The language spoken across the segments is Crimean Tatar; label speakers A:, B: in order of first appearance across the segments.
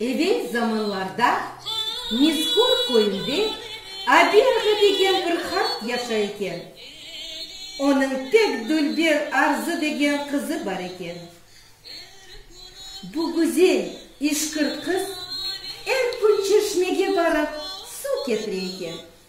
A: Evel zamanlarda mezkür köyünde Abi ağa degen bir haq yaşay eken. Onıñ pek dülber Arzı degen qızı bar eken. Bu güzel, işkır qız er kün çeşmege barıp suv ketire eken.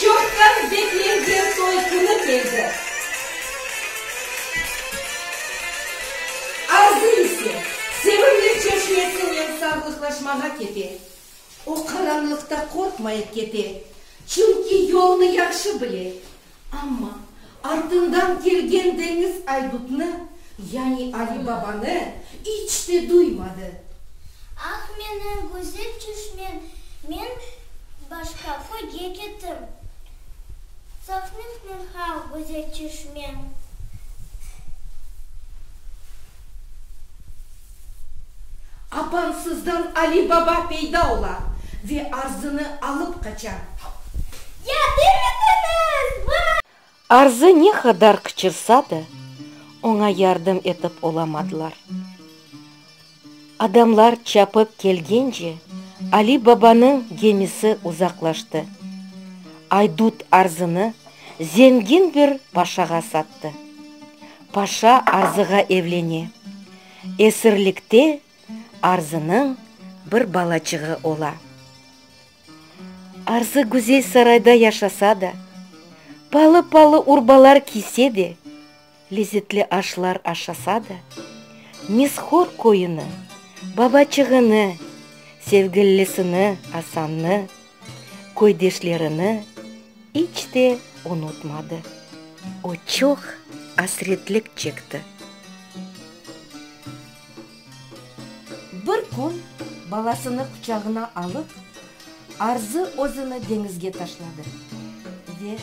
A: Çoqtan beklengen toy künü keldi. Arzı ise, sevimli çeşmesinen sağlıqlaşmağa kete. O qaranlıqta qorqmayıp kete, çünki yolnı yahşı bile. Amma, artından kelgen deñiz aydutnı, yani Ali Babanı, iç te duymadı. Ah, menim güzel çeşmem! Men başqa köyge kettim. Safnıf Nurhal, güzel çeşmem! Apansızdan Ali Baba peyda ola ve arzını alıp qaça. Ya diriltiniz, vay! Arzı ne qadar qıçırsa da, oña yardım etip olamadılar. Adamlar çapıp kelgence, Ali Babanıñ gemisi uzaqlaştı. Aydut arzını zengin bir paşağa sattı. Paşa arzığa evlene. Esirlikte arzınıñ bir balaçığı ola. Arzı güzel sarayda yaşasa da, palı-palı urbalar kiyse de, lezetli aşlar aşasa da, Mizhor köyüni, babaçığını, sevgililisini Asannı, Köydeşlerini iç de unutmadı. O çoq asretlik çekti. Bir kün balasını quçağına alıp, Arzı özüni deñizge taşladı ve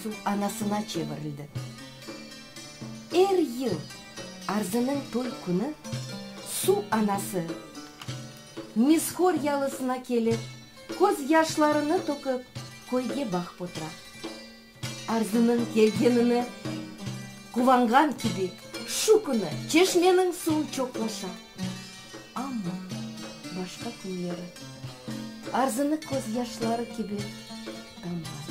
A: suv anasına çevirildi. Er yıl Arzınıñ toy künü suv anası, Mizhor yalısına kelip, köz yaşlarını tökip, köyge baqıp otura. Arzınıñ kelgenine quvanğan kibi, şu künü çeşmeniñ suvu çoqlaşa. Amma başqa künleri arzınıñ köz yaşları kibi damğay.